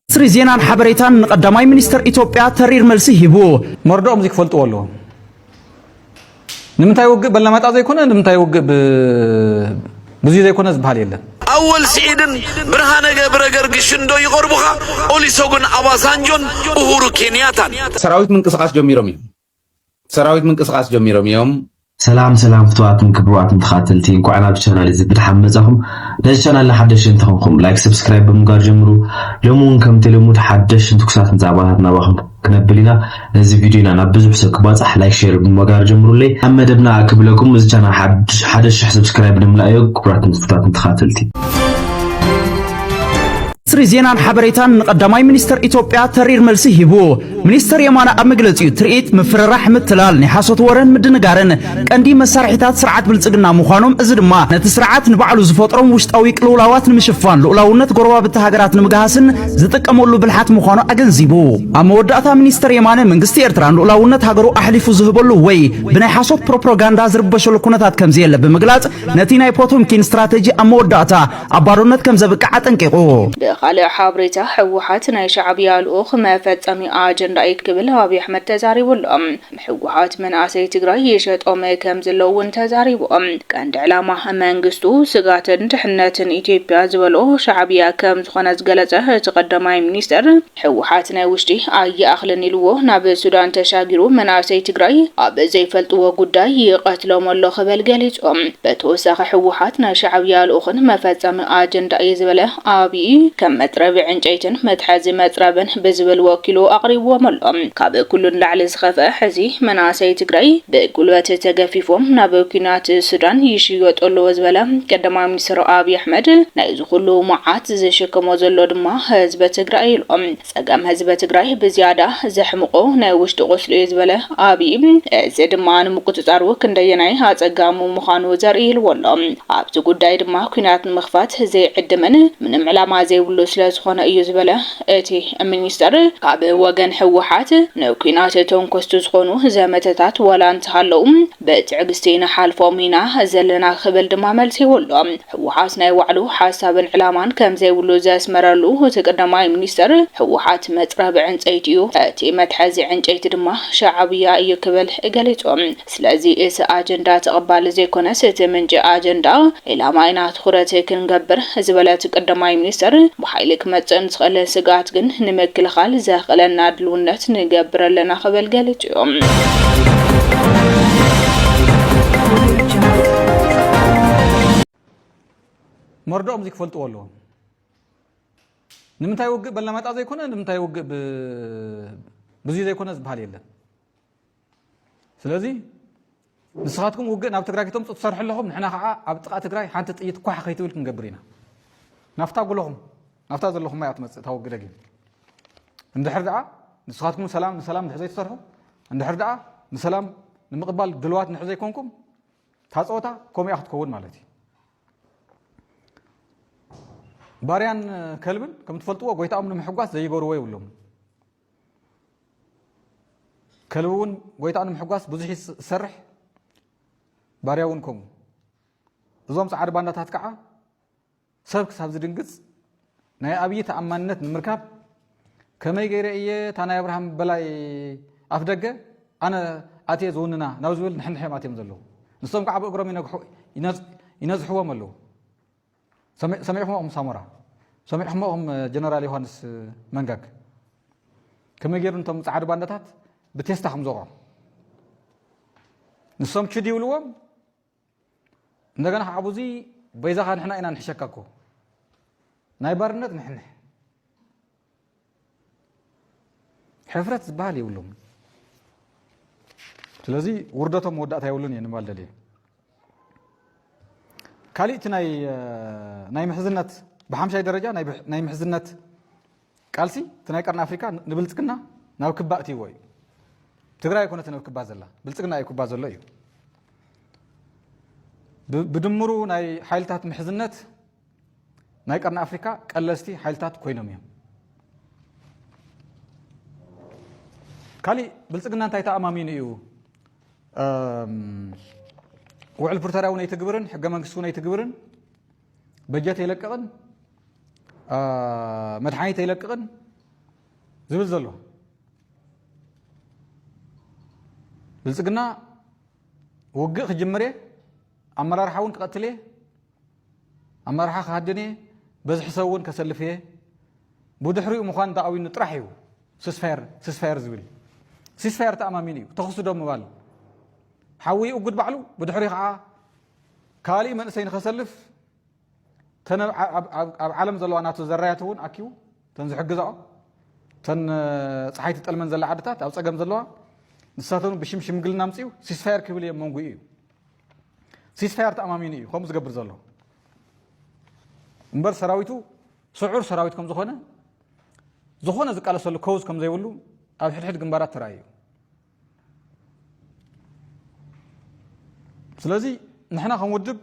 ሚኒስትሪ ዜናን ሓበሬታን ንቀዳማይ ሚኒስተር ኢትዮጵያ ተሪር መልሲ ሂቡ። መርድኦም እዚ ክፈልጥዎ ኣለዎም። ንምንታይ ውግእ በለመጣ ዘይኮነ ንምንታይ ውግእ ብዙይ ዘይኮነ ዝበሃል የለን። ኣወል ስዒድን ብርሃነ ገብረ ገርግሽን ዶ ይቐርቡኻ? ኦሊሶጉን ኣባሳንጆን ኡሁሩ ኬንያታን። ሰራዊት ምንቅስቃስ ጀሚሮም እዮም። ሰራዊት ምንቅስቃስ ጀሚሮም እዮም። ሰላም ሰላም ፍትዋትን ክብርዋትን ተኻተልቲ እንኳዕ ናብ ቻናል እዚ ብድሓን መጻኹም ነዚ ቻናል ንሓደሽቲ እንተኾንኩም ላይክ ሰብስክራይብ ብምግባር ጀምሩ ሎሚ እውን ከምቲ ልሙድ ሓደሽን ትኩሳትን ዛዕባታት ናባኹም ክነብል ኢና ነዚ ቪድዮና ናብ ብዙሕ ሰብ ክባጻሕ ላይክ ሼር ብምግባር ጀምሩለይ ኣብ መደብና ክብለኩም እዚ ቻናል ሓደ ሽሕ ሰብስክራይብ ንምልኣዮ ክቡራትን ፍትዋትን ተኻተልቲ ሚኒስትሪ ዜናን ሓበሬታን ንቀዳማይ ሚኒስተር ኢትዮጵያ ተሪር መልሲ ሂቡ። ሚኒስተር የማነ ኣብ መግለጺኡ ትርኢት፣ ምፍርራሕ፣ ምትላል፣ ናይ ሓሶት ወረን ምድንጋርን ቀንዲ መሳርሒታት ስርዓት ብልጽግና ምዃኖም እዚ ድማ ነቲ ስርዓት ንባዕሉ ዝፈጥሮም ውሽጣዊ ቅልውላዋት ንምሽፋን ልኡላውነት ጎረባብቲ ሃገራት ንምግሃስን ዝጥቀመሉ ብልሓት ምዃኑ ኣገንዚቡ። ኣብ መወዳእታ ሚኒስተር የማነ መንግስቲ ኤርትራ ንልኡላውነት ሃገሩ ኣሕሊፉ ዝህበሉ ወይ ብናይ ሓሶት ፕሮፕሮጋንዳ ዝርበሸሉ ኩነታት ከምዘየለ ብምግላጽ ነቲ ናይ ፖቶምኪን ስትራተጂ ኣብ መወዳእታ ኣብ ባርነት ከም ዘብቅዕ ኣጠንቂቑ። ብኻልእ ሓብሬታ ህወሓት ናይ ሻዕብያ ልኡኽ መፈፀሚ ኣጀንዳ እዩት ክብል ኣብይ ኣሕመድ ተዛሪቡ ኣሎ። ህወሓት መናእሰይ ትግራይ ይሸጦም ከም ዘሎ እውን ተዛሪቡ። ቀንዲ ዕላማ መንግስቱ ስጋትን ድሕነትን ኢትዮጵያ ዝበሎ ሻዕብያ ከም ዝኾነ ዝገለፀ እቲ ቀዳማይ ሚኒስትር፣ ህወሓት ናይ ውሽጢ ኣይኣኽልን ኢልዎ ናብ ሱዳን ተሻጊሩ መናእሰይ ትግራይ ኣብ ዘይፈልጥዎ ጉዳይ ይቐትሎም ኣሎ ክበል ገሊፁ። ብተወሳኺ ህወሓት ናይ ሻዕብያ ልኡኽን መፈፀሚ ኣጀንዳ እየ ዝበለ ኣብይ ከም መፅረቢ ዕንጨይትን መትሓዚ መፅረብን ብዝብል ወኪሉ ኣቕሪብዎም ኣሎ። ካብ ኩሉ ንላዕሊ ዝኸፍኣ ሕዚ መናእሰይ ትግራይ ብጉልበት ተገፊፎም ናብ ኲናት ሱዳን ይሽየጡ ኣለዉ ዝበለ ቀዳማይ ሚኒስትር ኣብይ ኣሕመድ ናይ ንኹሉ መዓት ዝሽክሞ ዘሎ ድማ ህዝቢ ትግራይ ኢሉ። ፀገም ህዝቢ ትግራይ ብዝያዳ ዘሕምቖ ናይ ውሽጢ ቁስሉ እዩ ዝበለ ኣብዪ፣ እዚ ድማ ንምቁፅፃሩ ክንደየናይ ኣፀጋሚ ምዃኑ ዘርኢ ኢልዎ ኣሎ። ኣብዚ ጉዳይ ድማ ኲናት ንምኽፋት ዘይዕድምን ምንም ዕላማ ዘይብሉ ስለዝኾነ እዩ ዝበለ እቲ ሚኒስተር፣ ካብ ወገን ህወሓት ንኲናት ተንኮስቲ ዝኾኑ ዘመተታት ዋላ እንተሃለዉ፣ ብትዕግስቲ ንሓልፎም ኢና ዘለና ክብል ድማ መልሲዎ'ሎ። ህወሓት ናይ ባዕሉ ሓሳብን ዕላማን ከምዘይብሉ ዘስመረሉ እቲ ቀዳማይ ሚኒስትር፣ ህወሓት መፅረቢ ዕንፀይቲ እዩ፣ እቲ መትሓዚ ዕንጨይቲ ድማ ሻዕብያ እዩ ክብል ገሊፁ። ስለዚ እቲ ኣጀንዳ ተቐባሊ ዘይኮነስ እቲ ምንጪ ኣጀንዳ ዒላማ ኢና ትኹረት ክንገብር ዝበለ እቲ ቀዳማይ ሚኒስትር፣ ብሓይሊ ክመፅእ ንዝኽእል ስግኣት ግን ንምክልኻል ዘኽእለና ድልውነት ንገብር ኣለና ክብል ገሊፁ። መርድኦም እዙይ ክፈልጥዎ ኣለዎም ንምንታይ ውግእ በላማጣ ዘይኮነ ንምንታይ ውግእ ብዙ ዘይኮነ ዝበሃል የለን ስለዚ ንስኻትኩም ውግእ ናብ ትግራይ ክተምፁ ትሰርሑ ኣለኹም ንሕና ከዓ ኣብ ጥቃ ትግራይ ሓንቲ ጥይት ኳሕ ከይትብል ክንገብር ኢና ናፍታ ጉለኹም ናፍታ ዘለኹም እያ ትመፅእ እታ ውግእ ደጊም እንድሕር ደኣ ንስኻትኩም ሰላም ንሰላም እንድሕር ዘይትሰርሑ እንድሕር ደኣ ንሰላም ንምቕባል ድልዋት እንድሕር ዘይኮንኩም እታ ፀወታ ከምኡ እያ ክትከውን ማለት እዩ ባርያን ከልብን ከም ትፈልጥዎ ጎይታኦም ንምሕጓስ ዘይገርዎ የብሎም ከልቢ እውን ጎይታኡ ንምሕጓስ ብዙሕ እዩ ዝሰርሕ ባርያ እውን ከምኡ እዞም ፃዓዱ ባንዳታት ከዓ ሰብ ክሳብ ዝድንግፅ ናይ ኣብዪ ተኣማንነት ንምርካብ ከመይ ገይረ እየ እታ ናይ ኣብርሃም በላይ ኣፍ ደገ ኣነ ኣትየ ዝውንና ናብ ዝብል ንሕንሕ እዮም ኣትዮም ዘለዉ ንሶም ከዓ ብእግሮም ይነዝሕዎም ኣለዉ ሰሚዕኹሞ እኹም ሳሞራ ሰሚዕኹሞ እኹም ጀነራል ዮሃንስ መንጋግ ከመይ ገይሩ ንቶም ጻዕዱ ባንዳታት ብቴስታ ከም ዘውቕዖም ንሶም ችድ ይብልዎም እንደገና ከዓ ብዙ በይዛኻ ንሕና ኢና ንሕሸካ እኮ ናይ ባርነት ንሕንሕ ሕፍረት ዝበሃል የብሎምን ስለዚ ውርደቶም መወዳእታ የብሉን እየ ንባል ደልየ ካሊእቲ ናይ ምሕዝነት ብሓምሻይ ደረጃ ናይ ምሕዝነት ቃልሲ እቲ ናይ ቀርኒ ኣፍሪካ ንብልፅግና ናብ ክባ እትይዎ እዩ ትግራይ ኣይኮነት ናብ ክባ ዘላ ብልፅግና እዩ ክባ ዘሎ እዩ ብድምሩ ናይ ሓይልታት ምሕዝነት ናይ ቀርኒ ኣፍሪካ ቀለስቲ ሓይልታት ኮይኖም እዮም ካሊእ ብልፅግና እንታይ ተኣማሚኑ እዩ ውዕል ፕሪቶሪያ እውን ኣይትግብርን ሕገ መንግስቲ እውን ኣይትግብርን በጀት የለቅቕን መድሓኒት የለቅቕን ዝብል ዘሎ ብልፅግና ውግእ ክጅምር እየ ኣመራርሓ እውን ክቐትል እየ ኣመራርሓ ክሃድን እየ፣ በዝሒ ሰብ እውን ከሰልፍ እየ፣ ብድሕሪኡ ምዃን ተኣዊኑ ጥራሕ እዩ ስስፋየር ስስፋየር ዝብል። ሲስፋየር ተኣማሚኑ እዩ ተኹሲ ዶ ምባል ሓዊ ይእጉድ ባዕሉ፣ ብድሕሪኡ ከዓ ካሊእ መንእሰይ ንኸሰልፍ ተን ኣብ ዓለም ዘለዋ ናቱ ዘራያት እውን ኣኪቡ ተን ዝሕግዛኦ ተን ፀሓይ ትጠልመን ዘላ ዓድታት ኣብ ፀገም ዘለዋ ንሳተን ብሽም ሽምግልና ምፅኡ ሲስፋየር ክብል እየ መንጉኡ እዩ ሲስፋየር ተኣማሚኑ እዩ ከምኡ ዝገብር ዘሎ እምበር ሰራዊቱ ስዑር ሰራዊት ከም ዝኾነ ዝኾነ ዝቃለሰሉ ከውዝ ከም ዘይብሉ ኣብ ሕድሕድ ግንባራት ተራእዩ ስለዚ ንሕና ከም ውድብ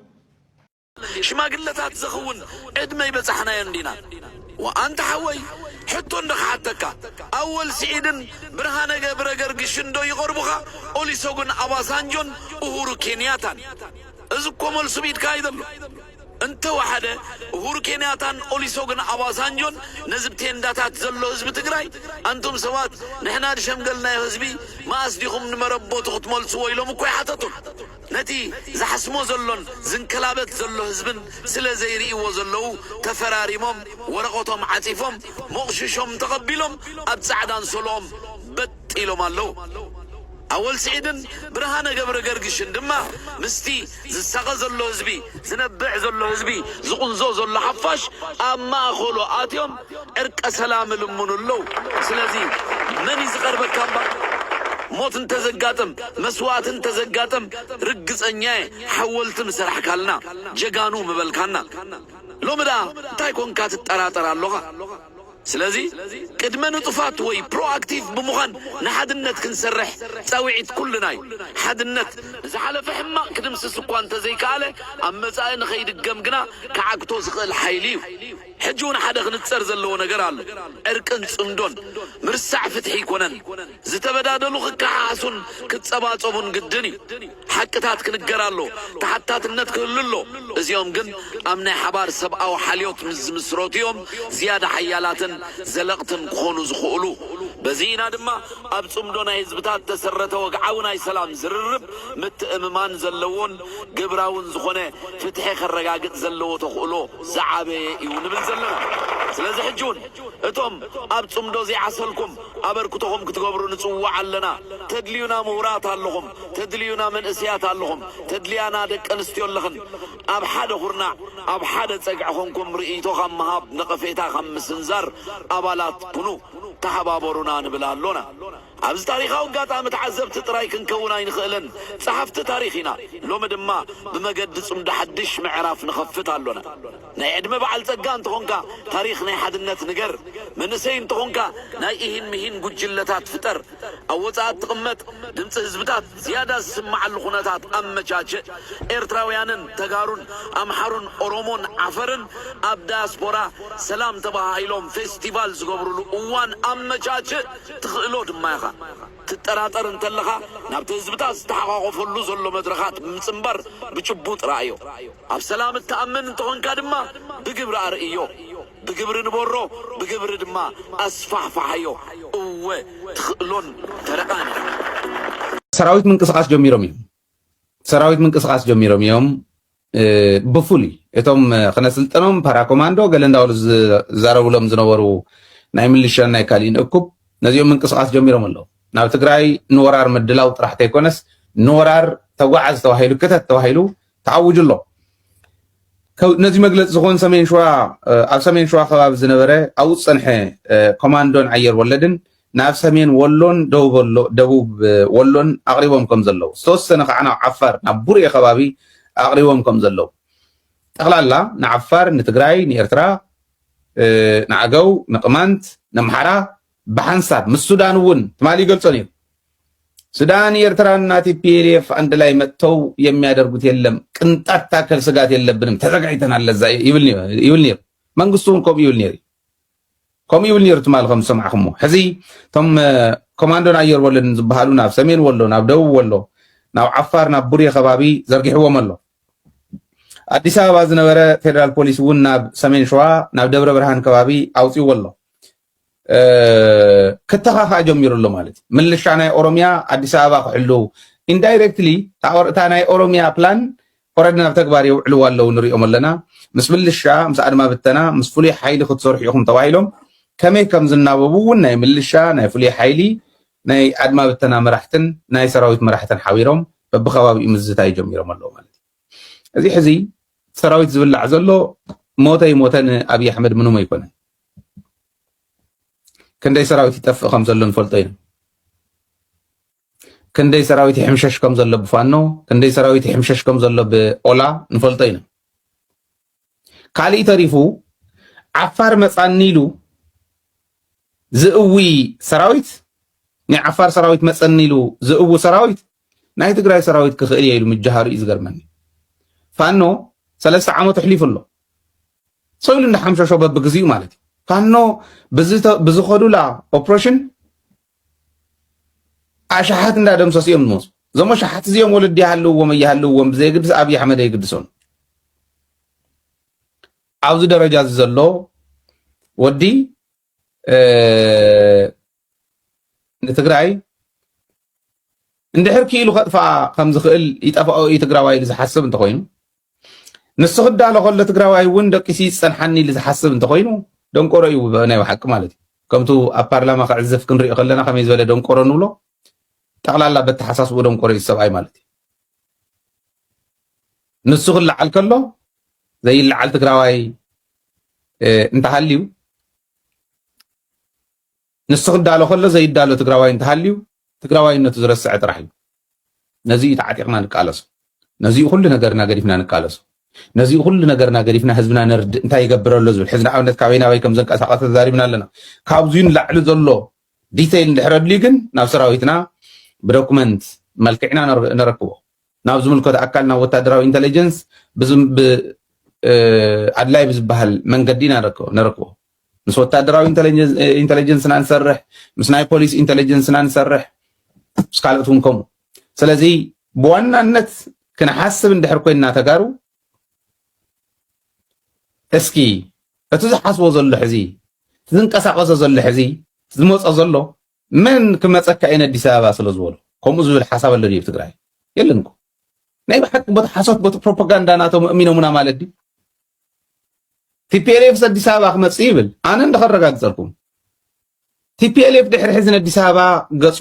ሽማግለታት ዘኽውን ዕድመ ይበጻሕናዮ እንዲና እወ ኣንታ ሓወይ ሕቶ እንዶ ክሓተካ ኣወል ሲዒድን ብርሃነ ገብረገርግሽን ዶ ይቐርቡኻ ኦሊሶጉን ኣባሳንጆን ኡሁሩ ኬንያታን እዚ እኮ መልሱ ብ ኢድካ እዩ ዘሎ እንተ ወሓደ ኡሁሩ ኬንያታን ኦሊሶግን ኣባሳንጆን ነዚ ብ ቴንዳታት ዘሎ ህዝቢ ትግራይ ኣንቱም ሰባት ንሕና ድሸምገልናዮ ህዝቢ መኣስ ዲኹም ንመረበቱ ክትመልስዎ ኢሎም እኮ ኣይሓተቱን ነቲ ዝሓስሞ ዘሎን ዝንከላበት ዘሎ ህዝብን ስለ ዘይርእይዎ ዘለዉ ተፈራሪሞም ወረቐቶም ዓጺፎም ሞቕሽሾም ተቐቢሎም ኣብ ጻዕዳ ኣንሶልኦም በጥ ኢሎም ኣለዉ። ኣወል ስዒድን ብርሃነ ገብረገርግሽን ድማ ምስቲ ዝሳቐ ዘሎ ህዝቢ፣ ዝነብዕ ዘሎ ህዝቢ፣ ዝቑንዞ ዘሎ ሓፋሽ ኣብ ማእከሉ ኣትዮም ዕርቀ ሰላም እልምኑ ኣለው ስለዚ መን እዩ ዝቀርበካ እባ ሞት እንተዘጋጥም መስዋእቲ እንተዘጋጥም ርግጸኛ እየ ሓወልቲ ምሰራሕካልና ጀጋኑ ምበልካና ሎሚ ደኣ እንታይ ኮንካ ትጠራጠር ኣሎኻ ስለዚ ቅድመ ንጡፋት ወይ ፕሮ ኣክቲቭ ብምዃን ንሓድነት ክንሰርሕ ጻዊዒት ኩልና እዩ ሓድነት ንዝሓለፈ ሕማቅ ክድምስስ እኳ እንተዘይከኣለ ኣብ መጻኢ ንከይድገም ግና ክዓግቶ ዝኽእል ሓይሊ እዩ። ሕጂ ውን ሓደ ክንጸር ዘለዎ ነገር ኣሎ ዕርቅን ጽምዶን ምርሳዕ ፍትሒ ኣይኮነን ዝተበዳደሉ ክከሓሓሱን ክጸባጸቡን ግድን እዩ ሓቅታት ክንገር ኣሎ ተሓታትነት ክህሉ ኣሎ እዚኦም ግን ኣብ ናይ ሓባር ሰብኣዊ ሓልዮት ምስ ዝምስረቱ እዮም ዝያዳ ሓያላትን ዘለቕትን ክኾኑ ዝኽእሉ በዚ ኢና ድማ ኣብ ጽምዶ ናይ ህዝብታት ተሰረተ ወግዓዊ ናይ ሰላም ዝርርብ ምትእምማን ዘለዎን ግብራውን ዝኾነ ፍትሒ ከረጋግጽ ዘለዎ ተኽእሎ ዝዓበየ ኢዩ ንብል ዘለና። ስለዚ ሕጂ ውን እቶም ኣብ ጽምዶ ዘይዓሰልኩም ኣበርክቶኹም ክትገብሩ ንጽውዕ ኣለና። ተድልዩና ምሁራት ኣለኹም፣ ተድልዩና መንእስያት ኣለኹም፣ ተድልያና ደቂ ኣንስትዮ ኣለኽን። ኣብ ሓደ ኩርናዕ ኣብ ሓደ ጸግዒ ኮንኩም ርእይቶ ካብ ምሃብ ነቐፌታ ካብ ምስንዛር ኣባላት ኩኑ፣ ተሓባበሩና ንብል ኣሎና። ኣብዚ ታሪኻዊ ኣጋጣሚ ተዓዘብቲ ጥራይ ክንከውን ኣይንኽእልን፣ ጸሓፍቲ ታሪኽ ኢና። ሎሚ ድማ ብመገዲ ጽምዶ ሓድሽ ምዕራፍ ንኸፍት ኣሎና። ናይ ዕድመ በዓል ጸጋ እንተኾንካ ታሪኽ ናይ ሓድነት ንገር፣ መንእሰይ እንተኾንካ ናይ ኢሂን ምሂን ጉጅለታት ፍጠር፣ ኣብ ወጻኢ እትቕመጥ ድምጺ ህዝብታት ዝያዳ ዝስምዓሉ ኩነታት ኣመቻችእ፣ ኤርትራውያንን ተጋሩን ኣምሓሩን ኦሮሞን ዓፈርን ኣብ ዳያስፖራ ሰላም ተበሃሂሎም ፌስቲቫል ዝገብሩሉ እዋን ኣመቻችእ፣ ትኽእሎ ድማ ኢኻ። ትጠራጠር እንተለኻ ናብቲ ህዝብታት ዝተሓቛቖፈሉ ዘሎ መድረኻት ብምጽንባር ብጭቡጥ ረኣዮ። ኣብ ሰላም እትኣምን እንተኾንካ ድማ ብግብሪ ኣርእዮ። ብግብሪ ንበሮ፣ ብግብሪ ድማ ኣስፋሕፍሓዮ። እወ ትኽእሎን ተረኣን ኢኻ። ሰራዊት ምንቅስቓስ ጀሚሮም እዮም። ሰራዊት ምንቅስቃስ ጀሚሮም እዮም ብፍሉይ እቶም ክነስልጠኖም ፓራኮማንዶ ገለ እንዳበሉ ዝዛረብሎም ዝነበሩ ናይ ምልሻን ናይ ካሊእን እኩብ ነዚኦም ምንቅስቃስ ጀሚሮም ኣለዉ ናብ ትግራይ ንወራር ምድላው ጥራሕ ተይኮነስ ንወራር ተጓዓዝ ተባሂሉ ክተት ተባሂሉ ተኣውጁ ኣሎ ነዚ መግለፂ ዝኾን ሰሜን ሸዋ ኣብ ሰሜን ሸዋ ከባቢ ዝነበረ ኣብኡ ዝፀንሐ ኮማንዶን ኣየር ወለድን ናብ ሰሜን ወሎን ደቡብ ወሎን ኣቕሪቦም ከም ዘለዉ፣ ዝተወሰነ ከኣ ናብ ዓፋር ናብ ቡሬ ከባቢ ኣቕሪቦም ከም ዘለዉ፣ ጠቕላላ ንዓፋር፣ ንትግራይ፣ ንኤርትራ፣ ንኣገው፣ ንቅማንት፣ ነምሓራ ብሓንሳብ ምስ ሱዳን እውን ትማሊ ይገልጾ ነይሩ። ሱዳን ኤርትራን እና ቲፒኤልኤፍ አንድ ላይ መጥተው የሚያደርጉት የለም ቅንጣት ታከል ስጋት የለብንም ተዘጋጅተናል ለዛ ይብል ነይሩ መንግስቱን ኮም ይብል ነይሩ ከምኡ ይብል ነይሩ ትማሊ ከም ዝሰማዕኹሞ ሕዚ እቶም ኮማንዶን ኣየር ወለድን ዝበሃሉ ናብ ሰሜን ወሎ ናብ ደቡብ ወሎ ናብ ዓፋር ናብ ቡሬ ከባቢ ዘርጊሕዎም ኣሎ ኣዲስ ኣበባ ዝነበረ ፌደራል ፖሊስ እውን ናብ ሰሜን ሸዋ ናብ ደብረ ብርሃን ከባቢ ኣውፅዎ ኣሎ ክተኻኻእ ጀሚሩ ኣሎ ማለት እዩ ምልሻ ናይ ኦሮሚያ ኣዲስ ኣበባ ክሕልው ኢንዳይሬክትሊ እታ ናይ ኦሮሚያ ፕላን ኮረድ ናብ ተግባር የውዕልዎ ኣለው ንሪኦም ኣለና ምስ ምልሻ ምስ ኣድማ ብተና ምስ ፍሉይ ሓይሊ ክትሰርሑ ኢኹም ተባሂሎም ከመይ ከም ዝናበቡ እውን ናይ ምልሻ ናይ ፍሉይ ሓይሊ ናይ ኣድማ ብተና መራሕትን ናይ ሰራዊት መራሕትን ሓቢሮም በብከባቢኡ ምዝታይ ጀሚሮም ኣለው ማለት እዩ እዚ ሕዚ ሰራዊት ዝብላዕ ዘሎ ሞተ ይሞተ ንኣብይ ኣሕመድ ምንም ኣይኮነን ክንደይ ሰራዊት ይጠፍእ ከም ዘሎ ንፈልጦ ኢና ክንደይ ሰራዊት ይሕምሸሽ ከም ዘሎ ብፋኖ ክንደይ ሰራዊት ይሕምሸሽ ከም ዘሎ ብኦላ ንፈልጦ ኢና። ካሊእ ተሪፉ ዓፋር መፃኒ ኢሉ ዝእዊ ሰራዊት ናይ ዓፋር ሰራዊት መፀኒ ኢሉ ዝእዊ ሰራዊት ናይ ትግራይ ሰራዊት ክኽእል እየ ኢሉ ምጃሃሩ እዩ ዝገርመኒ። ፋኖ ሰለስተ ዓመት ኣሕሊፉ ኣሎ ሰው ኢሉ እንዳሓምሸሾ በብግዚኡ ማለት እዩ ፋኖ ብዝኸዱላ ኦፕሬሽን ኣሽሓት እንዳደምሰሱ እዮም ዝመፁ። እዞም ኣሽሓት እዚኦም ወለዲ ይሃልውዎም ኣይሃልውዎም ብዘየግድስ ኣብዪ ኣሕመድ ኣይግድሶን። ኣብዚ ደረጃ እዚ ዘሎ ወዲ ንትግራይ እንድሕር ክኢሉ ከጥፍኣ ከም ዝኽእል ይጠፍኦ እዩ ትግራዋይ ኢሉ ዝሓስብ እንተኾይኑ ንሱ ክዳሎ ከሎ ትግራዋይ እውን ደቂሱ ይፀንሓኒ ኢሉ ዝሓስብ እንተኮይኑ ደንቆሮ እዩ ናይ ብሓቂ ማለት እዩ ከምቱ ኣብ ፓርላማ ክዕዘፍ ክንሪኦ ከለና ከመይ ዝበለ ደንቆሮ ንብሎ ጠቕላላ በተሓሳስቡ ደንቆሮ እዩ ሰብኣይ ማለት እዩ ንሱ ክለዓል ከሎ ዘይለዓል ትግራዋይ እንተሃልዩ ንሱ ክዳሎ ከሎ ዘይዳሎ ትግራዋይ እንተሃልዩ ትግራዋይነቱ ዝረስዐ ጥራሕ እዩ። ነዚ እዩ ተዓጢቕና ንቃለሶ። ነዚ እዩ ኩሉ ነገርና ገዲፍና ንቃለሶ። ነዚ እዩ ኩሉ ነገርና ገዲፍና ህዝብና ነርድእ እንታይ ይገብር ኣሎ ዝብል ሕዚ ንኣብነት ካበይ ናበይ ከም ዘንቀሳቐሰ ተዛሪብና ኣለና። ካብዙይ ንላዕሊ ዘሎ ዲተይል እንድሕር ኣድልዩ ግን ናብ ሰራዊትና ብዶኩመንት መልክዕና ነረክቦ ናብ ዝምልከቶ ኣካል ናብ ወታደራዊ ኢንተለጀንስ ኣድላይ ብዝበሃል መንገዲ ኢና ነረክቦ ምስ ወታደራዊ ኢንተለጀንስና ንሰርሕ፣ ምስ ናይ ፖሊስ ኢንተለጀንስና ንሰርሕ፣ ምስ ካልኦት እውን ከምኡ። ስለዚ ብዋናነት ክንሓስብ እንድሕር ኮይንና ተጋሩ እስኪ እቲ ዝሓስቦ ዘሎ ሕዚ ዝንቀሳቀሶ ዘሎ ሕዚ ዝመፆ ዘሎ መን ክመጸካ ኢዩ ነዲስ ኣበባ ስለ ዝበሎ ከምኡ ዝብል ሓሳብ ኣሎ ድዩ ትግራይ የለን እኮ ናይ ብሓቂ ቦቲ ሓሶት ቦቲ ፕሮፓጋንዳ ናቶም ኣእሚኖሙና ማለት ድዩ ቲፒኤልኤፍ ኣዲስ ኣበባ ክመጽእ ይብል ኣነ እንደ ከረጋግጸልኩም ቲፒኤልኤፍ ድሕሪ ሕዚ ነዲስ ኣበባ ገጹ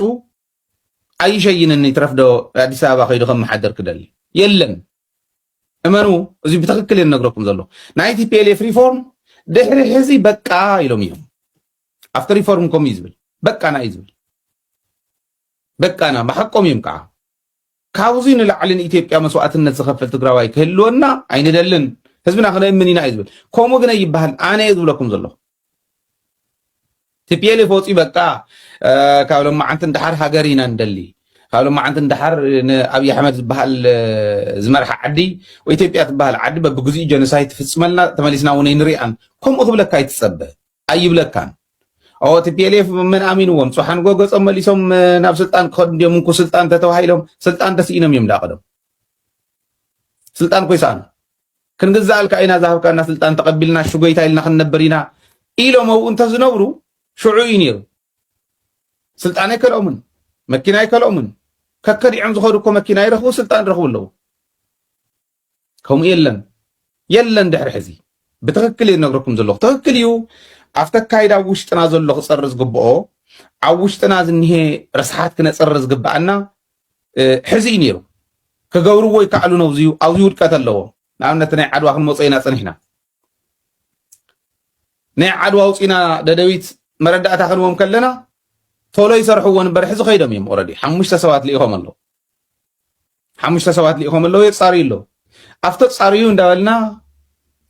ኣይሸይንን ይትረፍ ዶ ኣዲስ ኣበባ ከይዱ ከመሓደር ክደሊ የለን እመኑ እዚ ብትክክል እየ ነግረኩም ዘሎ ናይ ቲፒኤልኤፍ ሪፎርም ድሕሪ ሕዚ በቃ ኢሎም እዮም ኣብቲ ሪፎርም ከምኡ እዩ ዝብል በቃና እዩ ዝብል በቃና ብሓቆም እዮም ከዓ ካብዙይ ንላዕሊ ንኢትዮጵያ መስዋእትነት ዝኸፍል ትግራዋይ ክህልወና ኣይንደልን ህዝብና ክነእምን ኢና እዩ ዝብል ከምኡ ግን ኣይበሃል ኣነ እየ ዝብለኩም ዘለኹ ቲፒኤልኤፍ ወፂኡ በቃ ካብ ሎማዓንቲ ንደሓር ሃገር ኢና ንደሊ ካብ ሎማዓንቲ ንደሓር ንኣብዪ ኣሕመድ ዝበሃል ዝመርሓ ዓዲ ወይ ኢትዮጵያ ትበሃል ዓዲ በብግዚኡ ጀኖሳይድ ትፍፅመልና ተመሊስና እውን ኣይንሪኣን ከምኡ ክብለካ ኣይትፀበ ኣይብለካን ኦ ቲፒኤልኤፍ መን ኣሚንዎም ጽሓንጎ ገጾም መሊሶም ናብ ስልጣን ክኸዱ እንዲዮም እንኩ ስልጣን ተተባሂሎም ስልጣን ተስኢኖም እዮም ዳቐዶም ስልጣን ኮይ ሰኣኑ ክንግዛኣልካ ኢና ዝሃብካና ስልጣን ተቐቢልና ሽጎይታ ኢልና ክንነብር ኢና ኢሎም ኣብኡ እንተዝነብሩ ሽዑ እዩ ነይሩ ስልጣን ኣይከልኦምን መኪና ኣይከልኦምን ከከዲዖም ዝኸዱ እኮ መኪና ይረኽቡ ስልጣን ይረኽቡ ኣለዉ ከምኡ የለን የለን ድሕሪ ሕዚ ብትክክል እየ ዝነግረኩም ዘለኩ ትክክል እዩ ኣብቲ ኣካይዳ ኣብ ውሽጥና ዘሎ ክፀሪ ዝግብኦ ኣብ ውሽጥና ዝኒሄ ረስሓት ክነፅሪ ዝግባኣና ሕዚ እዩ ነይሩ ክገብርዎ ይከኣሉ ነው ዝዩ ኣብዚ ውድቀት ኣለዎ ንኣብነት ናይ ዓድዋ ክንመፆ ኢና ፀኒሕና ናይ ዓድዋ ውፅኢና ደደቢት መረዳእታ ክንዎም ከለና ቶሎ ይሰርሕዎ ንበር ሕዚ ከይዶም እዮም ኦረዲ ሓሙሽተ ሰባት ልኢኾም ኣለዉ ሓሙሽተ ሰባት ልኢኾም ኣለዉ የጻርዩ ኣለዉ ኣብ ተጻርዩ እንዳበልና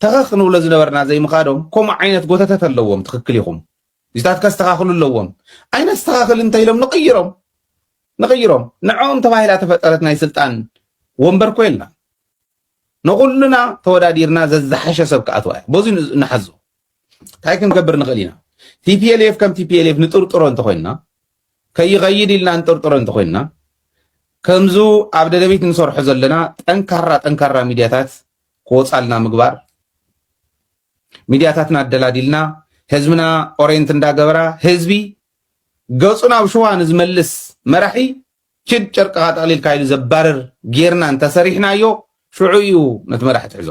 ተኸኽ ንብሎ ዝነበርና ዘይምኻዶም ከምኡ ዓይነት ጎተተት ኣለዎም ትኽክል ኢኹም እዚታት ከስተኻኽሉ ኣለዎም ኣይነስተኻኽል እንተኢሎም ንቕይሮም ንቕይሮም ንዕኦም ተባሂላ ተፈጠረት ናይ ስልጣን ወንበር ኮ የልና ንኹሉና ተወዳዲርና ዘዝሓሸ ሰብ ክኣትዋ እያ በዚ ንሓዞ እንታይ ክንገብር ንኽእል ኢና? ቲፒኤልኤፍ ከም ቲፒኤልኤፍ ንጥርጥሮ እንተኾይንና ከይኸይድ ኢልና ንጥርጥሮ እንተኾይንና ከምዙ ኣብ ደደቢት ንሰርሖ ዘለና ጠንካራ ጠንካራ ሚድያታት ክወፃልና ምግባር ሚድያታትና ኣደላዲልና ህዝብና ኦሬንት እንዳገበራ ህዝቢ ገፁ ናብ ሽዋ ንዝመልስ መራሒ ችድ ጨርቅኻ ጠቕሊልካ ኢሉ ዘባርር ጌርና እንተሰሪሕናዮ ሽዑ እዩ ነቲ መራሒ ትሕዞ